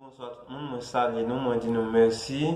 Bonswa tout moun, mwen salye nou, mwen di nou mèsi.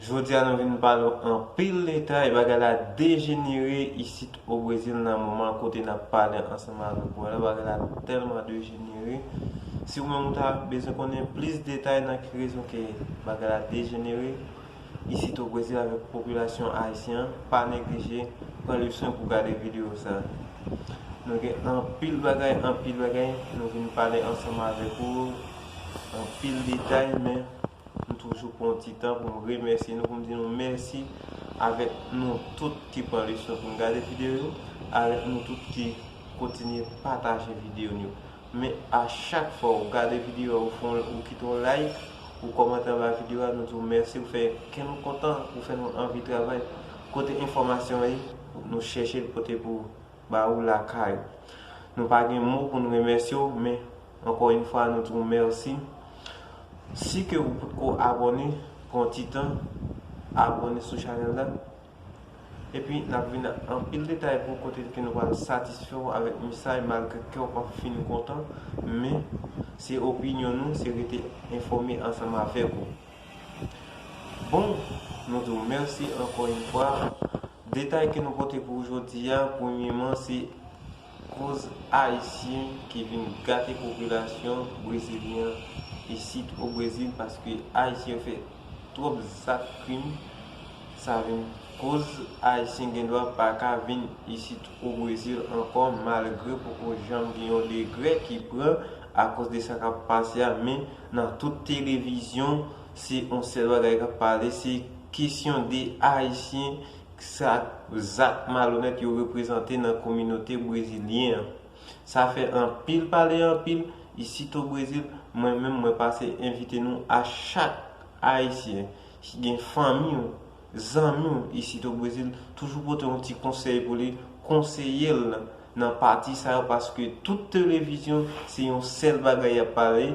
Jodi a nou vin pale w anpil detay, bagay la dejenere isit o Brezil nan moman kote n ap pale ansanm avèk ou a la, bagay la tèlman dejenere. Si ou menm ou ta bezwen konnen plis detay nan ki rezon ke bagay la dejenere, isit o Brezil avèk popilasyon ayisyen an pa neglije pran le swen pou gade video sa nou gen anpil bagay anpil bagay nou vin pale ansanm avèk ou anpil detay men m toujou pran yon ti tan pou m remèsye nou pou m di nou mèsi avèk nou tout ki pran le swen pou n gade video yo avèk nou tout ki kontinye pataje video nou yo. Men a chak fwa ou gade video a ou fon ou kite yon like ou kòmante anba video a nou di w mèsi ou fè kè nou kontan ou fè nou anvi travay kote enfòmasyon an ye nou chèche l pote pou ba ou lakay ou nou pa gen mo pou nou remèsye w men ankò yon fwa nou di w mèsi si ke ou potko abòne pran yon ti tan abòne sou chanèl la. Epi nap vin ak anpil detay pou ou kote ke nou pral satisfè ou avèk mesaj malgre kè ou pap fin kontan men se opinyon nou se rete enfòme ansanm avèk ou. Bon nou di ou mèsi ankò yn fwa detay ke nou pote pou ou jodi a premyeman se. Koz ayisyen ki vin gate popilasyon brezilyen an isit o brezil paske ayisyen yo fè twòp zak krim sa vin koz ayisyen gendwa pa ka vin isit o brezil ankò malgre poko janm gen yon degrè ki pran akoz de sa kap pase a men nan tout televizyon se on sèl bagay kap pale se kesyon de ayisyen Sa zak malonèt yo reprezante nan kominote brezilyen an. Sa fè anpil pale anpil isit o Brezil, mwen menm mwen pase envite nou a chak Ayisyen ki gen fanmi ou, zanmi ou isit o Brezil, toujou pote yon ti konsèy pou li, konseye l. nan pati sa yo paske tout televizyon se yon sèl bagay yap pale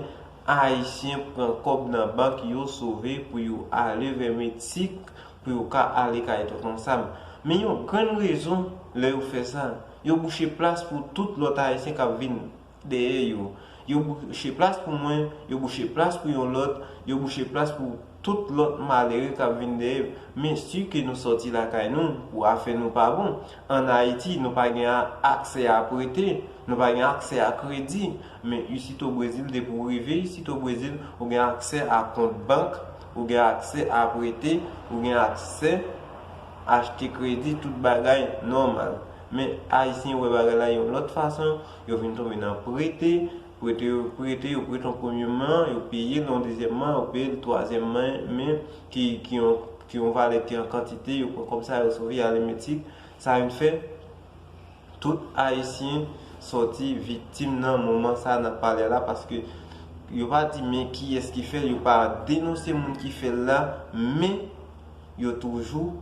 ayisyen pran kòb nan bank yo sove pou yo ale vè meksik pou yo ka ale kay tonton sam men yon grenn rezon lè yo fè sa yo bouche plas pou tout lòt ayisyen kap vin Dèyè yo. Yo bouche plas pou mwen, yo bouche plas pou yon lòt, yo bouche plas pou tout lòt malere kap vin dèyè yo. Men si ke nou sòti lakay nou pou afè nou pa bon, an Ayiti nou pa gen aksè a prete, nou pa gen aksè a kredi. Men isit o Brezil depi w rive isit o Brezil, ou gen aksè a kont bank, ou gen aksè a prete, ou gen aksè achte kredi, tout bagay nòmal. Men Ayisyen wè bagay la yon lòt fason, Yo vin tonbe nan prete, prete yo prete, yo prete yon premye man, yo peye l yon dezyèm man, yo peye l twazyèm man, men ki ki yon ki yon valè ki an kantite, yo pran kòb sa yo sove alemetik, sa vin fè tout ayisyen sòti viktim nan moman sa nap pale a la paske yo pa di men kiyès ki fè l, yo pa denonse moun ki fè l la, men. Yo toujou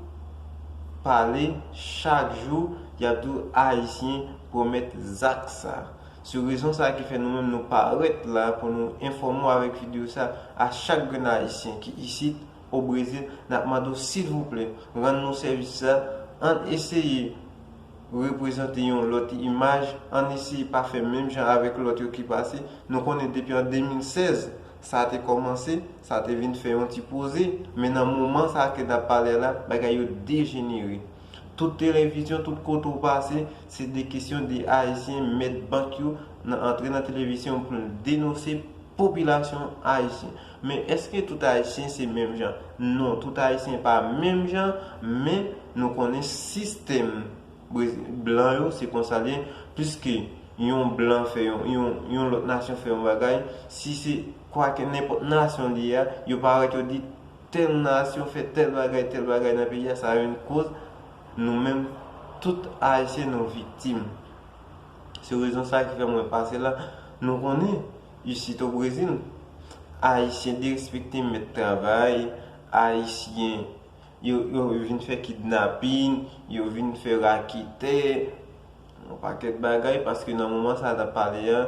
pale chak jou yap di w ayisyen pwomèt zak sa. Se rezon sa ki fè nou menm nou parèt la pou nou enfòme w avèk video sa a chak grenn ayisyen ki isit o Brezil nap mande w silvouplè rann nou sèvis sa ann eseye reprezante yon lòt imaj ann eseye pa fè menm jan avèk lòt yo ki pase nou konnen depi an 2016 Sa te kòmanse, sa te vin fè yon ti poze, men nan moman sa ke n ap pale a la, bagay yo dejenere. Tout televizyon, tout kote ou pase, se de kesyon de Ayisyen mèt bank yo nan antre nan televisyon pou l denose popilasyon Ayisyen. Men èske tout Ayisyen se menm jan? Non, tout Ayisyen pa menm jan, men nou konnen sistèm. Brezil. Blan yo se konsa l ye. Pliske yon blan fè yon, yon lòt nasyon fè yon bagay, si se kwake nenpòt nasyon li ye a, yo parèt yo di tèl nasyon fè tèl bagay, tèl bagay nan peyi a, sa yon koz nou menm tout Ayisyen nou viktim. Se rezon sa ki fè mwen pase la. Nou konnen, isit o Brezil, Ayisyen derespekte mèt travay, Ayisyen. Yo vin fè kidnapin, yo vin fè raketè, yon pakèt bagay paske nan moman sa a n ap pale a,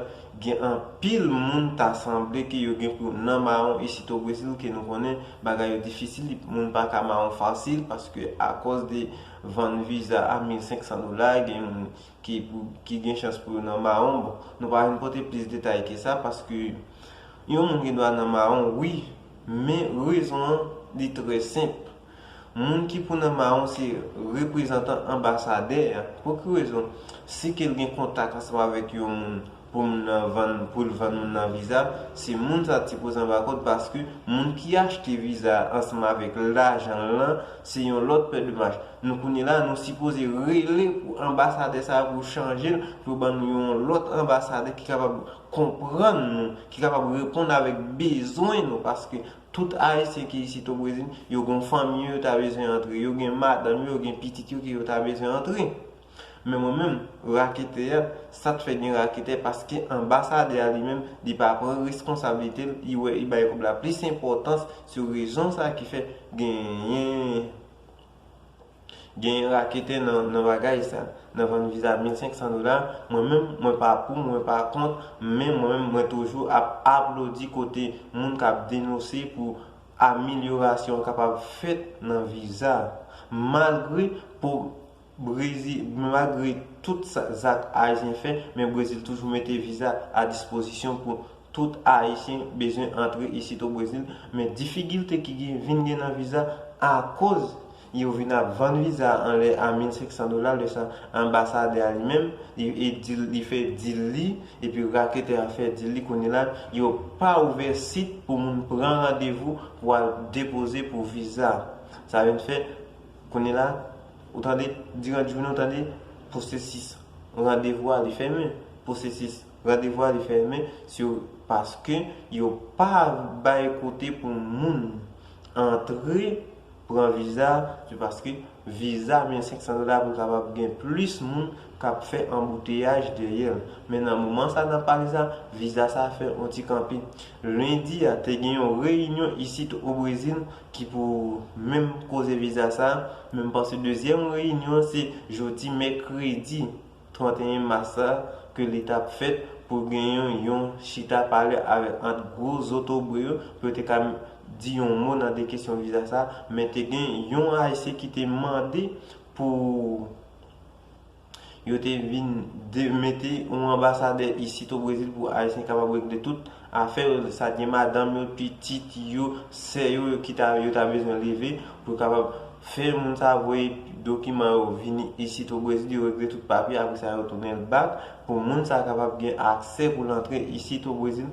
gen anpil moun ta sanble ke yo gen pou nan mawon isit o Brezil ke nou konnen bagay yo difisil, moun pa ka mawon fasil paske akòz de vann viza a 1500 dola, gen moun ki gen chans pou yo nan mawon. Bon, nou pa vin pote plis detay ke sa paske Yon moun gen dwa nan mawon wi, men rezon an li trè senp. Moun ki pou nan mawon se reprezantan anbasadè a. Pou ki rezon? Si ke l gen kontak ansanm avèk yon moun pou moun nan vann, pou l vann moun nan viza, se moun sa t sipoze anba kòd paske moun ki achte viza a ansanm avèk lajan l lan se yon lòt pè de manch. Nou kounye la nou sipoze rele pou anbasadè sa a pou chanje l pou yo ban nou yon lòt anbasadè ki kapab konprann nou, ki kapab reponn avèk bezwen nou paske tout Ayisyen ki isit o Brezil, yo gon fanmi yo yo ta bezwen antre, yo gen madanm yo, yo gen pitit yo ke yo ta bezwen antre. Men mwen menm, raketè a, sa t fè gen raketè paske anbasadè a li menm, li pa pran reskonsablite l, li wè li bay kòb la plis enpòtans, se rezon sa ki fè genyen. Genyen raketè nan bagay sa. Nan vann viza 1500 dola, mwen menm mwen pa pou, mwen pa kont, men mwen menm mwen toujou ap aplodi kote moun kap denose pou amelyorasyon kapab fèt nan viza. Malgre pou brezi malgre tout sa zak ayisyen fè men brezil toujou mete viza a dispozisyon pou Tout ayisyen bezwen antre isit o Brezil men difigilte ki gen vin gen nan viza akoz yo vin ap vann viza anlè a 1500 dola lè sa anbasadè a li menm li di li fè dil li epi raketè a fè dil li kounye la yo pa ouvè sit pou moun pran randevou pou al depoze pou viza sa vin fè kounye la ou tande diran jounen ou tande pwosesis randevou a li fèmen pwosesis. Randevou a li fèmen sou paske yo pa bay kote pou moun antre pran viza sou paske viza 1500 dola pou kapab gen plis moun kap fè anbouteyaj dèyèl men nan moman sa nap pale sa viza sa fè yon ti kanpe lendi a te gen yon reyinyon isit o brezil ki pou menm koze viza sa men m panse dezyèm reyinyon se jodi mèkredi 31 mas sa ke li tap fèt pou gen yon yon chita pale avèk ant gwo zotobre yo pou yo te ka di yon mo nan de kesyon viza sa men te gen yon ayisyen ki te mande pou yo te vin mete yon anbasadè isit o Brezil pou ayisyen kapab regle tout Afè yo sa gen madanm yo, pitit yo, sè yo ki ta yo ta bezwen leve pou yo kapab fè moun sa voye dokiman yo vini isit o Brezil yo regle tout papye apre sa yo tounen l bak pou moun sa kapab gen aksè pou l antre isit o Brezil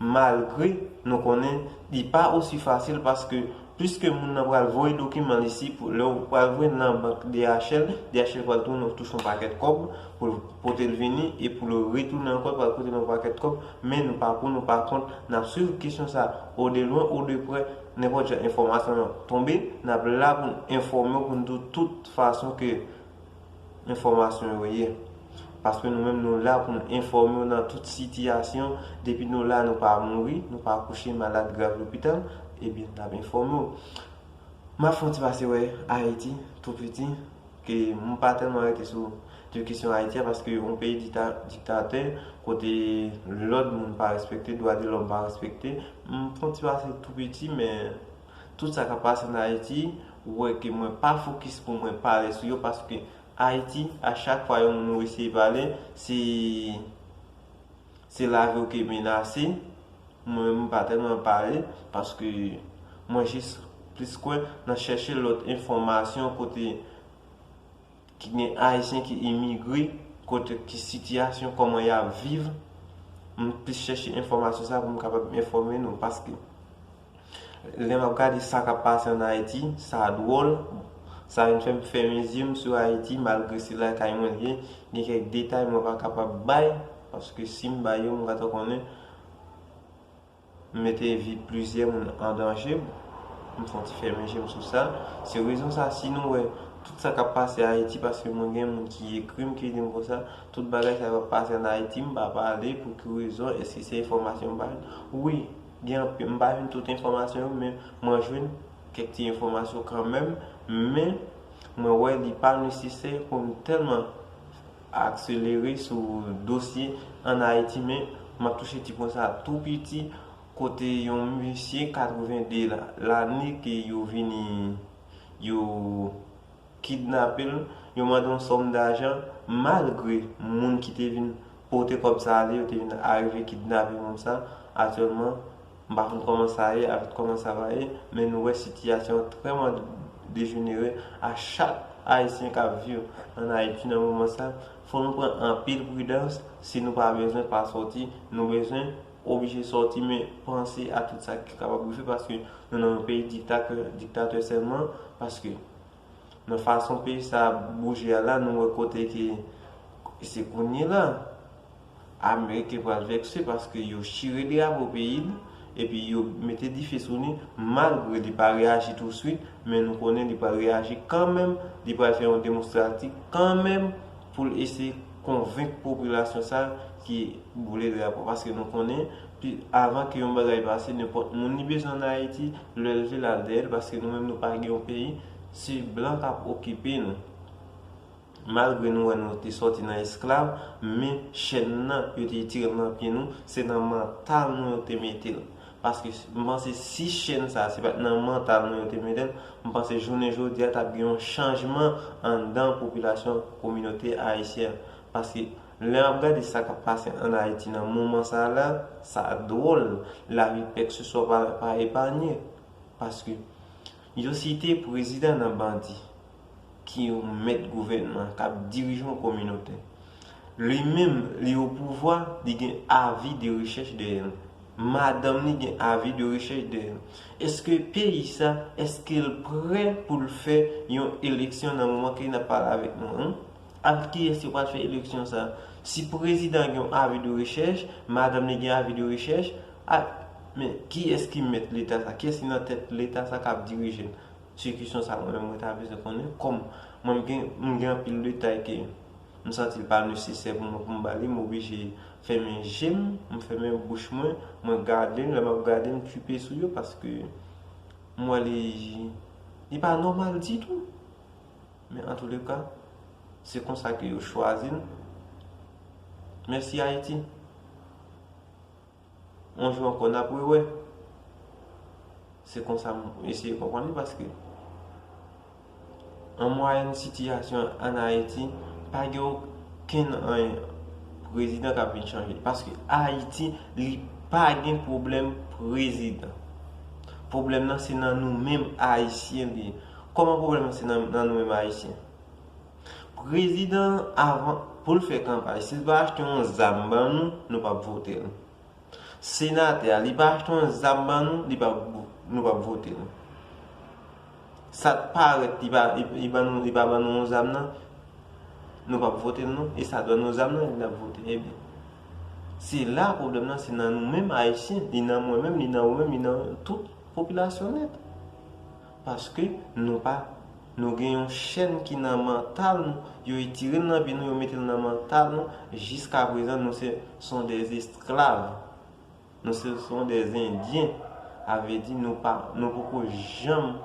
malgre nou konnen li pa osi fasil paske Piske moun nan pral voye dokiman li si pou lè ou pral voye nan bank DHL, DHL pral tounen ou touche yon pakèt kòb pou l pote l vini e pou l retounen ankò l pral koute nou yon pakèt kòb men nou pa pou nou pa kont n ap swiv kesyon sa o de lwen o de prè nenpòt jan enfòmasyon nan tonbe n ap la pou n enfòme w pou n di w tout fason ke Enfòmasyon yo ye. Paske nou menm nou la pou n enfòme w nan tout sitiyasyon, depi nou la nou pa mouri, nou pa kouche malad grav lopital, ebyen n ap enfòme w. M ap fè yon ti pase wè Ayiti, tou piti, ke m pa tèlman rete sou de kesyon Ayiti a, paske yon peyi diktatè, kote lòd moun pa respekte, dwa de lòm pa respekte, m fè yon ti pase tou piti, men Tout sa kap pase nan Ayiti ou wè ke mwen pa fokis pou mwen pale sou yo paske Ayiti a chak fwa yon moun ou eseye pale se se lavi ou ki menase mwen menm m pa tèlman pale paske mwen jis plis kwè nan chèche lòt enfòmasyon kote ki gen Ayisyen ki imigre kote ki sitiyasyon kòman yap viv m plis chèche enfòmasyon sa pou m kapab enfòme nou paske. Lè map gade sa kap pase an Ayiti, sa dwòl, sa vin fèm fèmen zye m sou Ayiti malgre se lakay mwen l ye, gen kèk detay mwen pa kapab bay paske si m bay yo m ka ta konnen m mete vi plizyè moun an danje, m fon ti fèmen je m sou sa, se rezon sa si nou wè tout sa kap pase Ayiti paske mwen gen moun ki ekri m ki di m konsa, tout bagay sa yo ap pase an Ayiti m pa pale pou ki rezon, èske se enfòmasyon m bay, wi Gen anpil, m pa jwenn tout enfòmasyon yo men mwen jwenn kèk ti enfòmasyon kanmenm, men mwen wè li pa nesesè pou m tèlman akselere sou dosye an Ayiti men m ap touche ti pwen sa tou piti kote yon mesye 82 lane ke yo vini yo kidnape l, yo mande yon sòm dajan malgre moun ki te vin pote kòb sa ale yo te vin arive kidnape moun sa, aktyèlman m pa konn kòman sa ye avk kòman sa va ye men nou wè sitiyasyon an trèman dejenere a chak ayisyen kap viv an ayiti nan moman sa fò nou pran anpil pridans si nou pa bezwen pa sòti nou bezwen oblije sòti men panse a tout sa ki kapab rive paske nou nan yon peyi diktakè diktatè sèlman paske nan fason peyi sa ap bouje a la nou wè kote ke se kounye la ameriken pral vekse paske yo chire drapo peyi l epi yo mete dife sou li malgre li pa reyaji tou swit men nou konnen li pral reyaji kanmenm li pral fè yon demonstrati kanmenm pou l eseye konvenk popilasyon sa ki boule drapo paske nou konnen avan ke yon bagay pase nenpòt moun li bezwen an Ayiti lè l vle l al dèyè l paske nou menm nou pa gen yon peyi se blan k ap okipe nou malgre nou wè nou te sòti nan esklav men chèn nan yo te itire l nan pye nou se nan mantal nou yo te mete l Paske m panse si chèn sa se pat nan mantal nou yo te mete l, m panse jounen jodi a t ap gen yon chanjman anndan popilasyon kominote ayisyen an. Paske lè m ap gade sa k ap pase ann Ayiti nan moman sa la, sa dwòl, lavi kèkseswa pa epanye. Paske Yo site prezidan nan bandi ki yon mèt gouvènman, k ap dirije yon kominote. Li menm, li opouvwa, li gen avi de rechèch dèyè l. Madanm li gen avi de rechèch dèyè l. Eske peyi sa, eske l prè pou l fè yon eleksyon nan moman ke n ap pale avèk nou an? Avèk kiyès yo pral fè eleksyon sa? Si prezidan gen yon avi de rechèch, madanm li gen avi de rechèch, Ak, men, kiyès ki mèt leta sa? Kiyès ki nan tèt leta sa k'ap dirije l? Se kesyon sa mwen menm mwen ta bezwen konnen. Kòm mwen m gen, m gen anpil detay ke m santi l pa nesesè pou mwen pou m ba li, m oblije fèmen je m, m fèmen bouch mwen, mwen gade l, lè m'ap gade m tchuipe sou yo paske m wè li, li pa nòmal ditou. Men antoulèka, se konsa ke yo chwazi n. Mèsi Ayiti. Yon jou ankò nap re wè. Se konsa m eseye konprann li paske an mwayèn sitiyasyon an Ayiti pa gen okenn anyen prezidan kap vin chanje paske Ayiti li pa gen pwoblèm prezidan. Pwoblèm nan se nan nou menm ayisyen li ye. Kòman pwoblèm nan se nan nou menm ayisyen? Prezidan avan poul fè kanpay sil pa achte yon zam ban nou nou pap votel senatè a li pa achte yon zam ban nou li pa nou pap votel sat parèt li pa li pa li pa ban nou yon zam nan nou pap votel non e sat ban nou zam nan nap votel ebyen se la pwoblèm nan se nan nou menm ayisyen li nan mwen menm li nan ou menm li nan tout popilasyon nèt. Paske nou pa Nou gen yon chèn ki nan mantal nou yo etirel nan vi nou yo metel nan mantal nou jiska prezan nou se son des esklav nou se son des endyen avedi nou pa nou poko janm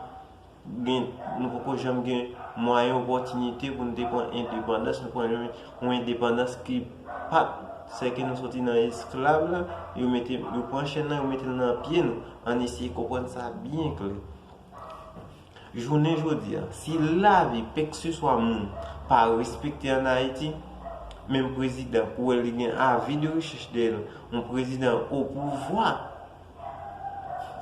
gen nou poko janm gen mwayen opòtinite pou nou te pran endepandans nou pran yon endepandans ki pat seke nou soti nan esklav la yo mete yo pran chèn nan yo metel nan pye nou. Ann eseye konprann sa byen klè. Jounen jodi a, si lavi kekseswa moun pa respekte ann Ayiti, menm prezidan pou wè li gen avi de rechèch dèyè l, yon prezidan opouvwa,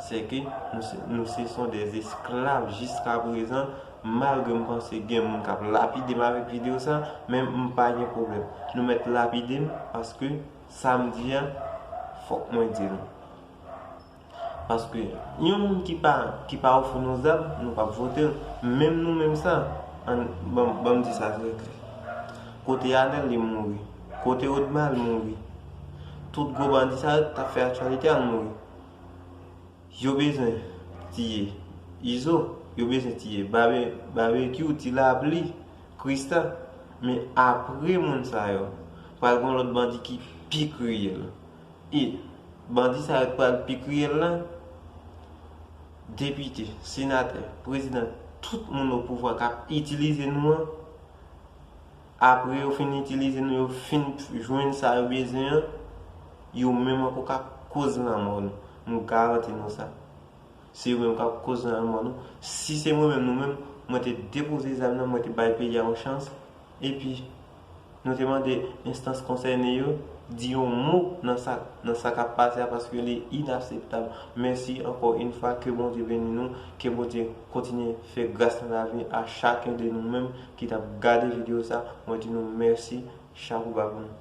sèke nou se son dè esklav jiska prezan, malgre m panse gen moun k ap lapide m avèk videyo sa, men m pa gen pwoblèm. Nou mèt lapide m paske sa m di a, fòk mwen di l. Paske yon moun ki pa ki pa ofri nou zam nou pap vote l menm nou menm sa an banm di sa trè klè kote anèl li mouri kote odma al mouri tout gwo bandi sa yo ki tap fè aktyalite al mouri yo bezwen tiye izo yo bezwen tiye babekyou ti lapli krista men apre moun sa yo pral gon lòt bandi ki pi kriyèl E bandi sa yo ki pral pi kriyèl la, depite, senatè, prezidan, tout moun opouvwa k ap itilize nou an, apre yo fin itilize nou, yo fin jwenn sa yo bezwen an, yo menm ankò k ap koz lanmò nou. M garanti nou sa. Se yo menm k ap koz lanmò nou. Si se mwen menm, nou menm, mwen te depoze zam nan, mwen te bay peyi a yon chans. Epi, nou te mande enstans konsène yo di yon mo nan sa nan sa kap pase a paske li inaseptab. Mèsi ankò yn fwa ke Bondye beni nou, ke Bondye kontinye fè gras nan lavi a chaken de nou menm ki tap gade video sa mwen di nou mèsi chapouba pou nou.